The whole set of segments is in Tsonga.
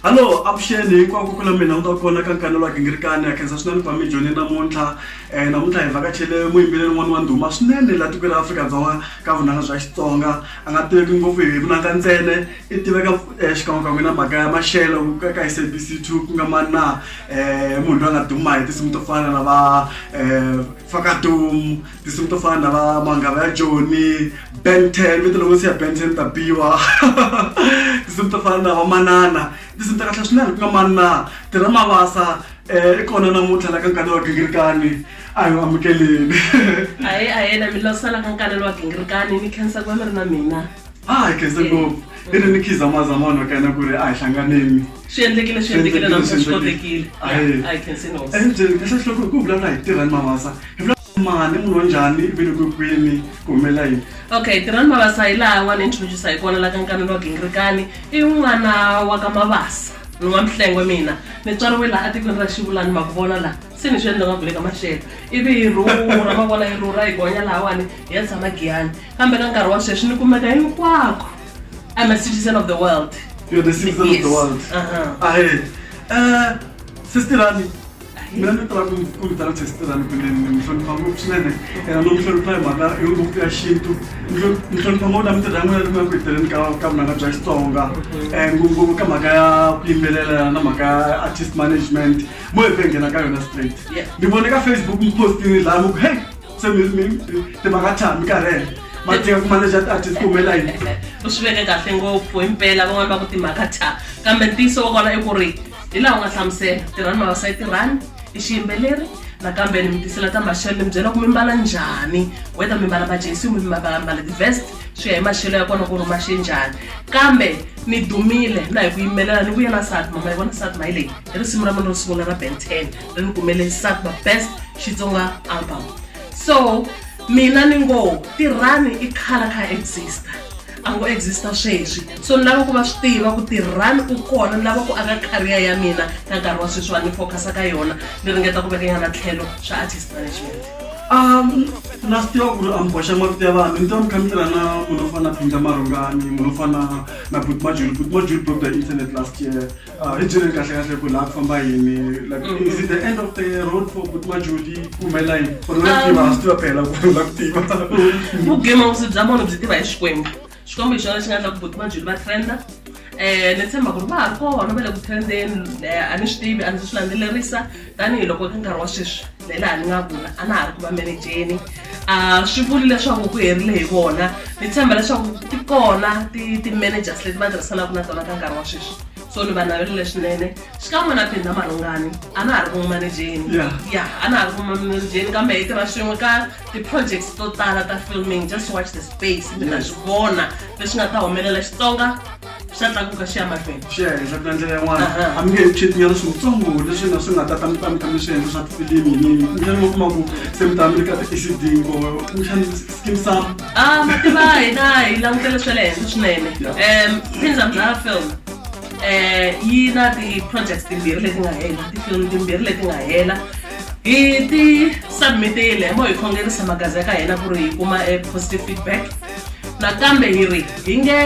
hallo avuxeni hinkwako ku na mina u ta kona ka nkanelo wa gingirikani ya khensa swinene kwami joni namuntlha um namuntlha hi vhakachele muyimbeleli n'wana wa ndhuma swinene laha tikweni ra afrika-dzonga ka vunanga bya xitsonga a nga tiveki ngopfu hi vunanga ntsene i tiveka um xikan'wekan'we na mhaka ya maxelo ka s a b c two ku nga mani na um munhu loyi a nga duma hi tinsimu to fana na va um fakadum tinsimu to fana na va manghava ya joni ben ten vito loko siya ben ten ta biwa tinsimu to fana na va manana tinsimu ta kahle swinene ku nga manana tirha mavasa um i kona namuntlha la ka nkani wa gingirikani a hi amukeleni a hi a hi na mi losela ka nkani wa gingirikani ni khensa ku va mi ri na mina hayi kese ngopfu i ri ni khiza maza mona ka yena ku ri a hi hlanganeni swi endlekile swi endlekile namusa swi kotekile i can say no and eh, kahle hloko ku vulavula hi tirhani mavasa hi vulavula mani munhu wa njhani i vile kwikwini ku humela yini okay tirhani mavasa hi laha n'wana introduce hi kona la ka nkanelo wa gingirikani i n'wana wa ka mavasa ni n'wa mihlengwe mina ni tswariwe laha etikweni ra xivulani ma ku vona laha se ni swi endla nga ku le ka maxelo ivi yi rhurha ma vona yi rhurha yi gonya lahawani hi ya tshama giyani kambe ka nkarhi wa sweswi ni kumeka hinkwako i'm a citizen of the world You're the citizen yes. of the world. Uh-huh. Ahe. Uh, sister Rani. mina ni tala ku vitana sesiterani kumbe ni hlonipha ngopfu swinene ena no mi hlonipha hi mhaka yo ngopfu ya xintu ni hlonipha ngopfu na mintirho ya n'wina ni ku ya ku heteleni ka ka vunanga bya xitsonga um ngopfungopfu ka mhaka ya ku yimbelela na mhaka ya artist management mo efe ngena ka yona straight ni vone ka facebook mi postini laha mi ku hey se mi mi timhaka tshami ka rena matinga ku manager tiartist ku humela yini u swi veke kahle ngopfu himpela van'wana va ku timhaka tha kambe ntiyiso wa kona i ku ri hi laha u nga hlamusela tirhani mavasai tirhani i xiyimbeleri nakambe ni mi tisela ta maxelo ni mi byela ku mi mbala njhani whether mi mbala majesi mi mbala ti-vest swi ya hi maxelo ya kona ku ri maxe njhani kambe ni dumile na hi ku yimelela ni vuyela sati mama yi vona sati mayi leyi hi risimu ra mina ro sungula ra ben ten ri ni kumele sakuba best xitsonga album so mina ni ngo tirhani i khala kha exista a ngo exista sweswi so ni lava ku va swi tiva ku tirhani u kona ni lava ku aka kariya ya mina ka nkarhi wa sweswi wa ni focus-a ka yona ni ringeta ku vekanyana tlhelo swa artist management um na swi tiva ku ri amboxa mavito ya vanhu ni tiva mi kha mi tirha na munhu wo fana na phinja marungani munhu wo fana na butmajuli butmajuli broke the internet last year Ah, hi byeleni kahle kahle ku laha ku famba yini like Mm. is it the end of the road for kuti majodi ku humelela yini or la ku tiva ha swi tiva phela ku la ku tiva vugema vusi bya munhu byi tiva hi xikwembu xikwembu hi xona xi nga endla ku buti majuli va trenda um ni tshemba ku ri va ha ri kona va le ku trendeni um a ni swi tivi a ndzi swi landzelerisa tanihi loko ka nkarhi wa sweswi na laha ni nga vula a na ha ri ku va menejeni a swi vuli leswaku ku herile hi vona ni tshemba leswaku ti kona ti-managers leti va tirhisanaka na tona ka nkarhi wa sweswi so ni va navelele swinene xikan'we na phinda marhungani a na ha ri vumanejeni ya a na ha ri vumanejeni kambe hi tirha swin'we ka ti-projects to tala ta filming just watch the space mi ta swi vona leswi nga ta humelela xitsonga swa tlakuka swi ya mahlweni swi ya hi swa ku ndlela yin'wana a mi nge he chetinyana swintsongo leswi nga swi nga ta ta mi ta mi ta mi swi endla swa tifilimi yinini kumbexani mi kuma ku se mi ta mi ri ka ti-acd ko kumbexani skim sam a mativa hina hi langutele swa le henhla swinene um pinza mdlaya film um yi na ti-projects timbirhi leti nga hela ti-film timbirhi leti nga hela hi ti submitile mo hi khongerisa magazi ya ka hina ku ri hi kuma e positive feedback nakambe hi ri hi nge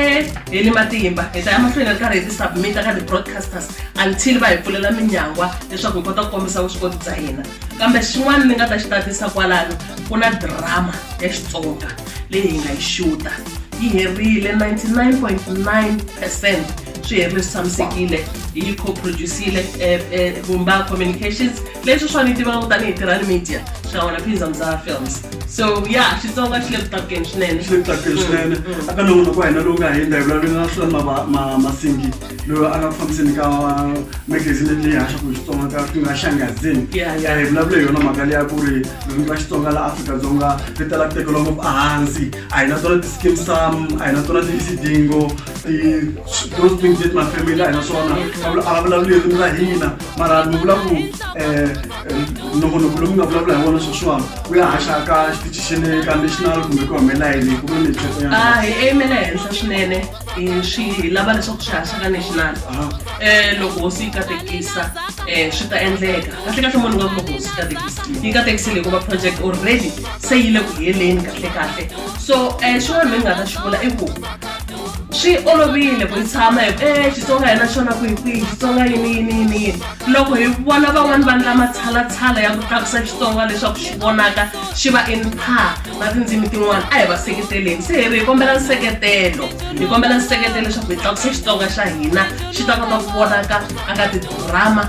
heli matimba hi ta ya mahlweni ri karhi hi ti-submita ka ti-broadcasters until va hi pfulela minyangwa leswaku hi kota ku kombisa vuswikoti bya hina kambe xin'wana ni nga ta xi tatisa kwalano ku na drama ya xitsonga leyi hi nga yi xuta yi herile 99.9 percent swi herile swi tshamisekile hi yi co-producile eh, eh, vumba communications leswi swa ni tivaka tanihi tirhani media xikan'we na phinza mzara films so ya xitsonga xi le ku tlakukeni swinene xi le ku tlakukeni swinene mm, mm. aka na n'wina ku hina lowu nga hindza hi vulavuleni na swilani masingi loyi a nga ku fambiseni ka magazini leyi haxaku hi xitsonga ka ku nga xangazini hi vulavule hi yona mhaka leya ku ri ririmi ra xitsonga la afrika-dzonga ri tala ku tekeriwa ngopfu ehansi a hi na tona ti-skim sam a hi na tona ti-isidingo those things that my family a hi na swona a va vulavuli ririmi ra hina mara ni vula ku eh, eh, nongonoko lowu mi nga vulavula hi wona sweswiwani wu ya haxa ka xitichi xa le ka national kumbe ku humelela yini ku vula leswi ya Ah, hi aimele henhla swinene hi swi hi lava leswaku swi haxa ka national um loko hosi yi katekisa um swi ta endleka kahle kahle munhu nga ku loko hosi yi katekisa yi katekisile hikuva project already se yi le ku heleni kahle kahle so um xin'wana mi nga ta xi vula i ku swi olovile ku tshama hi e xitsonga hi na xona ku hi kwihi xitsonga yini yini yini yini loko hi vona van'wani va ndla matshalatshala ya ku tlakusa xitsonga leswaku xi vonaka xi va in par na tindzimi tin'wana a hi va seketeleni se hi ri hi kombela nseketelo hi kombela nseketelo leswaku hi tlakusa xitsonga xa hina xi ta kota ku vonaka aka tidrama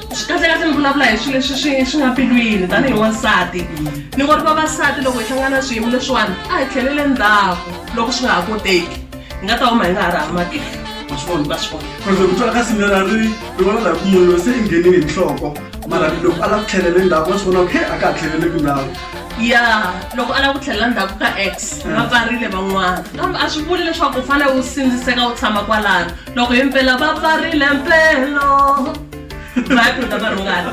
swi kahlekahle mi vulavula hi swilo leswi swi swi nga pilwini tanihi wansati ni ngo ri vavasati loko hi hlangana na swiyimo leswiwani a hi tlhelele ndzhaku loko swi nga ha koteki hi nga ta huma hi nga ha ri hamakile vaswivona va swi vona loko twa ka simela ri ri vona laha ku munhu loyi se i nghenile hi nhloko mara loko a lava ku tlhelele ndzhaku wa swi vona ku he a ka ha tlheleleki ndhawu ya loko a lava ku tlhelela ndzhaku ka x va pfarile van'wana kambe a swi vuli leswaku u fanele u sindziseka u tshama kwalano loko hi mpela va pfarile mpelo vayaphinda va rhungana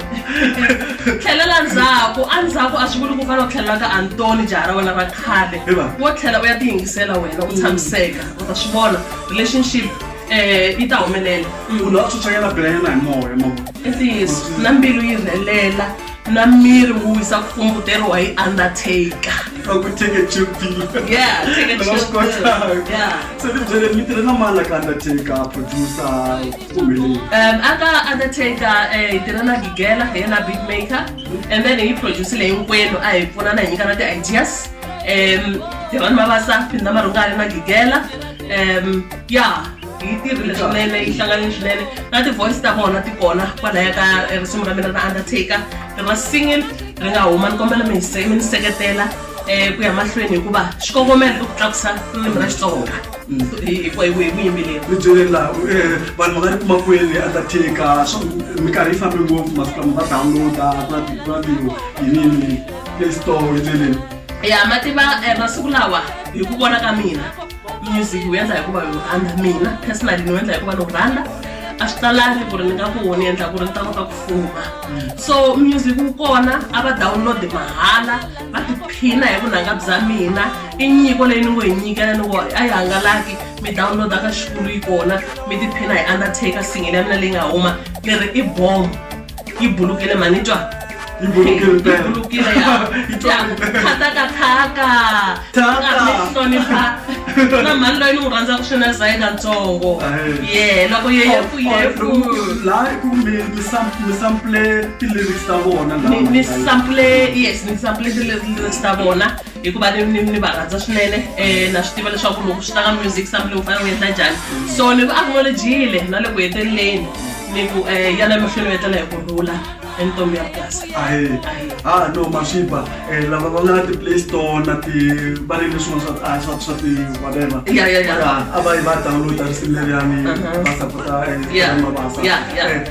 tlhelela ndzhaku endzhaku a swi vuli ku fana u tlhelela ka antoni jaha ra wena ra khale wo tlhela u ya tiyingisela wena u tshamiseka u ta swi vona relationship um yi ta humelela munhu a tsutsanyana bilanyana hi moya ntiyiso na mbilu yi rhelela na miri wu wisa ku kumbuteriwa hi undertaker se ni byele mi tirhe na mani la ka undertaker producer Um, aka undertaker eh, hi tirha na gigela hi yena beat maker and then hi producile hinkwenu a hi pfuna na hi nyikana ti-ideas um tirhani mavasa phinda marungani na gigela um ya hi tirhile swinene yi hlanganile swinene na ti-voice ta vona ti kona kwalaya ka eh, risimu ra mina ra undertaker ri ra single ri nga huma ni kombela mi hi se- mi ni seketela um ku ya mahlweni hikuva xikongomelo i ku tlakusa ririmi ra xitsonga byeleni laha vanhu va nga ri kuma kwele undertaker minkarhi yi fambe ngopfu masiku lama va downloada ku na tiradiyo yinini play store hi ndleleni ya ma tiva eh, masiku lawa hi ku vona ka mina music wu endla hikuva yi rhandza mina personally ni wu endla hikuva ni wu rhandza a swi talangi ku ri ni nga ku ni endla ku ri ni ta kota ku fuma mm. so music wu kona a va download mahala va tiphina hi vunanga bya mina i nyiko leyi ni ngo hi nyikela ni ngo a yi hangalaki mi downloada ka xikulu yi kona mi tiphina hi undertaker singile ya mina leyi nga huma ni ri i bom yi bulukile mani twa yi bulukile yakhatakhaka hlonipha na mhani loyi ni n'wi rhandzaka swina zayina ntsongo ye loko yeyefuyefu laha i ku mi sampule ti-lyrics ta vona ni ni sample yes ni sample ti-lyrics ta vona hikuva ni ni ni va rhandza swinene um na swi tiva leswaku loko swi ta ka music sample u fanele u endla njhani so ni ku acknowledgile na le ku heteleleni ni ku um yana emahlweni u etlela hi ku rhula entombi ya purasi ahe ha ah, no maswipa um eh, lava va nga na ti-play store na ti va ri leswin'wa swa ah, swa swa ti whatever ya ya ya a va yi va downloada risimu leriyani uh-huh. va sapota eh, mabasa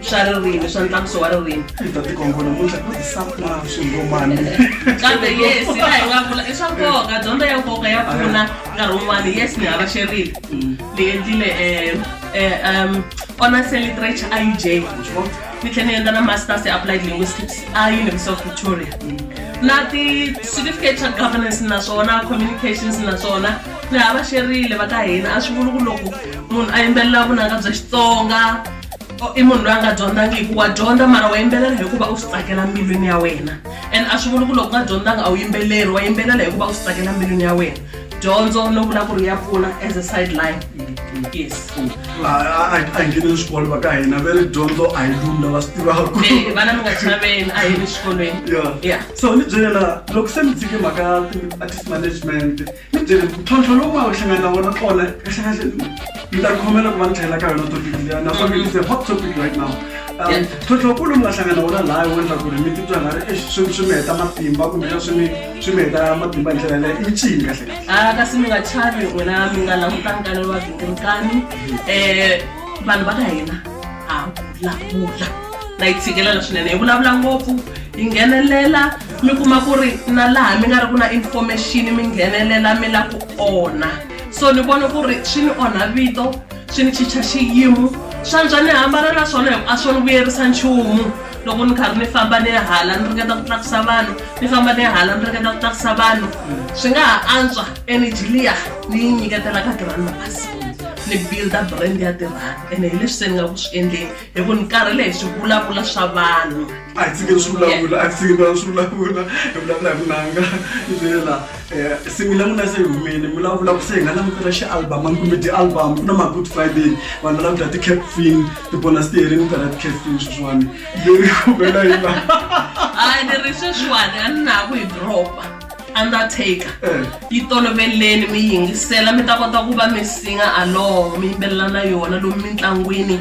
swa ririmi swa ntlakuso wa ririmi ta tikongo namuntlha ku tisapula swingomani kambe yes la hi nga vula i swa nkoka dyondzo ya nkoka ya pfuna nkarhi wun'wana yes ni hava xerile ni endlile um um honors in literature iuj ni tlhela ni endla na masters ya applied linguistics a university of victoria na ti-certificate xa governance naswona communications naswona ni hava xerile va ka hina a swi vuli ku loko munhu a yimbelela vunanga bya xitsonga Oh, i munhu loyi a nga dyondzangiki wa dyondza mara wa yimbelela hikuva u swi tsakela mbilwini ya wena and a swi vuli ku loko nga dyondzanga a wu yimbeleri wa yimbelela hikuva u swi tsakela mbilwini ya wena dyondzo no vula ku ri ya pfuna as a sideline yes a hi ngeneni swikolo va ka hina ve ri dyondzo a hi lumi lava swi tivaku eh, vana mi nga chaveni a hi ri xikolweni ya so ni byela loko se mi tshike mhaka artist management mi byele ntlhontlho lowu va hlangana na wona kona ka hlangana mi ta khomela ku va ni tlhela ka yona topic liya naswona it's a hot topic right now um Yeah. ntlhontlho wukulu mi nga hlangana na wona laha wo endla ku ri mi titwa nga ri "Eish, swi swi mi heta matimba kumbe swi mi swi mi heta matimba hi ndlela leyo i ncini kahle kahle Ah, kasi mi nga chavi n'wina mi nga langutani ka ni vavhingirikani um vanhu va ka hina havulavula na yi tshikelela swinene hi vulavula ngopfu yi nghenelela mi kuma ku ri na laha mi nga ri ku na information mi nghenelela mi la ku onha so ni vona ku ri swi ni onha vito swi ni chicha xiyimo swantswa ni hambana na swona a swo ni vuyerisa nchumu loko ni karhi ni famba ni hala ni ringeta ku tlakusa vanhu ni famba ni hala ni ringeta ku tlakusa vanhu swi nga ha antswa energy liya ni yi nyiketela ka tirhani magazini ni builda brand ya tirhani ene hi leswi se ni nga ku swi endleni hi ku ni karhele hi swi vulavula swa vanhu a hi tshikeni swi vulavula a hi tshikeni swi vulavula hi vulavula hi vunanga hi byela eh, singila n'wina se hi humile mi vulavula ku se hi nga langutela xi-album a mi kumbe ti-album ku na ma-good friday vanhu va langutela ti-capfin ti-bonus tiherini ku karha ti-capfin sweswiwani leyi kumela hi laha hayi ni ri sweswiwani a ni na ku hi dropa undertaker eh. yi toloveleni mi yingisela mi ta kota ku va mi singa along mi yimbelela na yona lomu mintlangwini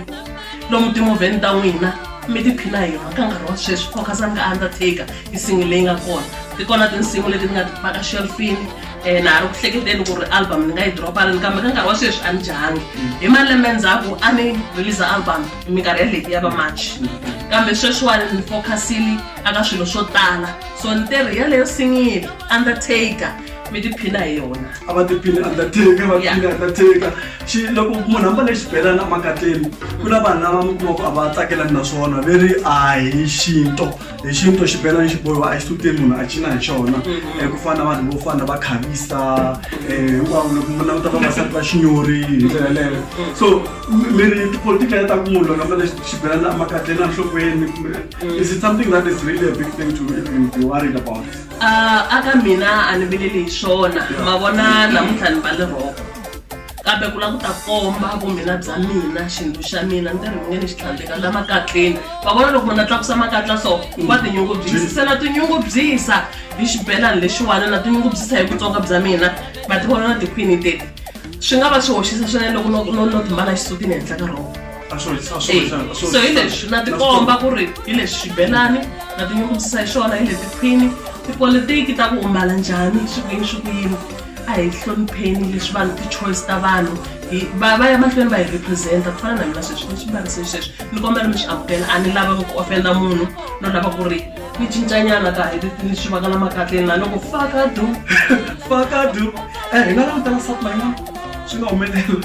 lomu timovheni ta n'wina mi tiphina hi yona ka nkarhi wa sweswi focusani ka undertaker yi singi leyi nga kona ti kona tinsimu leti ni nga ti paka shelfini um na ha ri ku hleketeni ku ri album ni nga yi droparini kambe ka nkarhi wa sweswi a ni jahangi hi malembe ndzhaku a ni release album minkarhi ya leti ya va march mm-hmm. kambe sweswiwani ni focusile aka swilo swo tala so ni te ri yaleyo singile undertaker mi tiphina hi yona a va tiphini undertaker va tiphini undertaker xi loko munhu ambale xibelana emakatleni ku na vanhu lava mi kumaka a va tsakelani na swona ve ri a hi xinto hi xinto xibelani xi bohiwa a xi suteni munhu a cina hi xona um ku fana na vanhu vo fana va khavisa um hinkwavo loko mi languta vavasati va xinyori hi ndlela yeleyo so mi ri tipolitika ya ta ku munhu loko ambale xibelana emakatleni enhlokweni Mm. Is it something that is really a big thing to even be worried about? Uh, aka mina a ni vileli hi swona ma vona namuntlha ni va le roko kambe ku lava ku ta komba vumina bya mina xintu xa mina ni tirhi nge ni xi tlhandleka la makatleni va vona loko munhu a tlakusa makatla so va tinyungubyisisa na tinyungubyisa hi xibelani lexiwana na tinyungubyisa hi vutsonga bya mina va ti vona na tikhwini teti swi nga va swi hoxisa swinene loko no no no timbala xisutini henhla ka rona a swo a swo Eh, a swo so hi leswi na tikomba ku ri hi leswi xibelani na tinyungubyisa hi swona hi leti phini tipolitiki ta ku u mbala njhani hi swi ku yini swi ku yini a hi hlonipheni leswi vanhu ti-choice ta vanhu hi- va va ya mahlweni va hi representa ku fana na mina sweswi ni swi mbarise xisweswi ni kombela mi swi amukela a ni lava ku ofenda munhu no lava ku ri ni cincanyana ka ni swi vaka lama katleni la loko fakadu fakadu um eh, hi nga langutela sati mayina swi nga humelela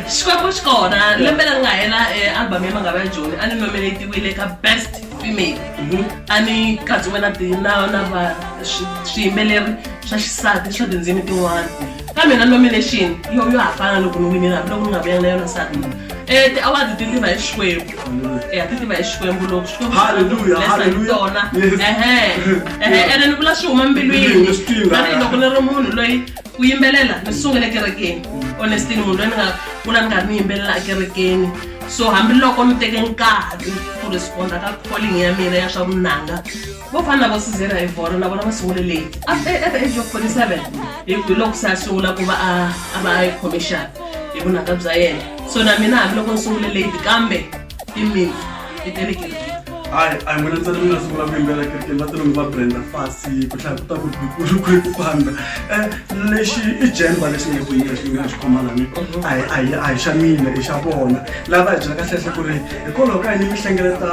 xikwembu xi kona lembe leri nga hela eh, album ya mangava ya joni a ni nominatiwile ka best female mhm. a ni katsiwe na na na va swiyimbeleri swa xisati swa tindzimi tin'wana kambe na nomination yo yo hafana loko ni winile hambiloko ni nga vuyanga na yona sati Eh, ti-award ti tiva hi xikwembu ya ti tiva hi xikwembu loko xikwembutona ene ni vula swi huma mbilwini tanihiloko ni ri munhu loyi ku yimbelela ni sungule kerekeni honestini munhu loyi ni nga kula ni nga ni yimbelela ekerekeni so hambiloko ni teke nkarhi ku responda ka calling ya mina ya swa vunanga vo fana na vo sizera hi vona na vona va sungule leyi at the age of 47 hi loko se a sungula ku va a a va a yi khome xana hi vunanga bya yena so na mina hambiloko ni sungule leyi kambe i mina i tele kereke hayi a hi mina ntsena mi nga sungula ku yimbela kerekeni va tele mi va brenda fasi ku hlaya ku ta ku bikulu ku ku famba um lexi i jemba lexi nga ku yinga xi nga xi khomalani a hi a hi a hi xa mina i xa vona lava hi byela kahlehla ku ri hikwalaho ka yini mi hlengeleta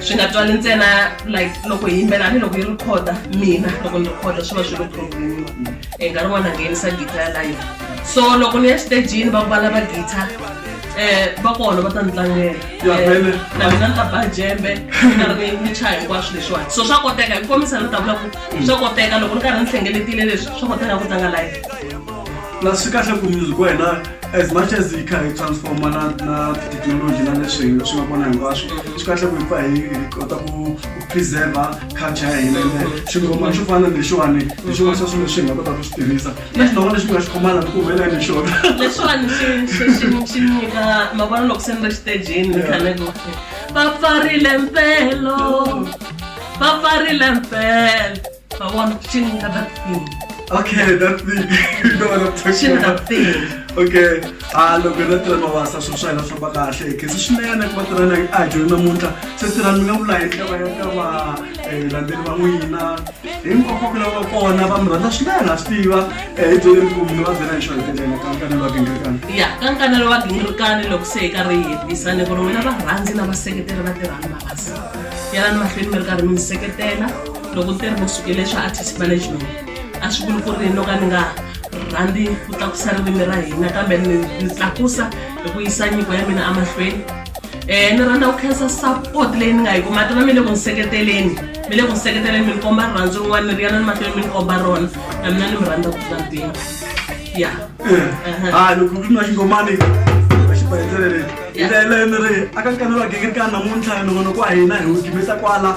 swi nga twali ntsena like loko hi yimbela ni loko yi rikhoda mina loko ni rikhoda swi va swi ri problemiwa e nkarhi n'wana nghenisa gita ya live so loko ni ya xitejini va vala va gita um va kona va ta ni tlangela eh, na mina ni ta ba jembe karhi ni chaya hinkwaswo leswiwani so swa koteka hi kombisa ni ta vula ku swa koteka loko ni karhi ni hlengeletile leswi swa koteka ku tlanga live na swi kahle ku music wa hina as much as hi kha hi transforma na na technology na leswi hi swi nga kona hinkwaswo swi kahle ku hi pfa hi hi kota ku ku preserva culture ya hina ende xingoma xo fana na lexiwani hi xin'wana xa swilo leswi hi nga kota ku swi tirhisa na xin'wana lexi mi nga xi khomana ku humelela hi xona leswiwani xi- xi- xi- xi nyika mavona loko se ni ri xitejini ni khale ku va pfarile mpelo va pfarile mpelo I want to tune another thing. Okay, that thing. you know what I'm talking tune about. Tune another thing. okay a ah, loko hi vatirha mavasa swilo swa hina famba kahle hi khensa swinene ku vatirha na a dyoni namuntlha se tirhani mi nga vula hi ndlela ya ka va eh, landzeli va n'wina hinkwako ku lava kona va mi rhandza swinene ha swi tiva eh, hi byele ku mi va byela hi xona tindlela ka nkanelo wa gingirikani ya ka nkanelo wa gingirikani loko se hi karhi hi hetisa ni ku ri n'wina varhandzi na vaseketeri va tirhani mavasa yalani mahlweni mi ri karhi mi ni seketela loko ni te ri vusukile swa artist management a swi vuli ku ri no ka ni nga rhandzi ku tlakusa ririmi ra hina kambe ni ni tlakusa hi ku yisa nyiko ya mina emahlweni um ni rhandza ku khensa support leyi ni nga yi kuma tona mi le ku ni seketeleni mi le ku ni seketeleni mi ni komba rirhandzu rin'wana ni ri yana ni mahlweni mi ni komba rona na mina ni mi rhandza ku tlula mpimo ya ha loko ku ri na xingomani xibendlele hi ndlela yaleyo ni ri aka nkanelwa gingirikani namuntlha ni vona ku wa hina hi wu gimisa kwala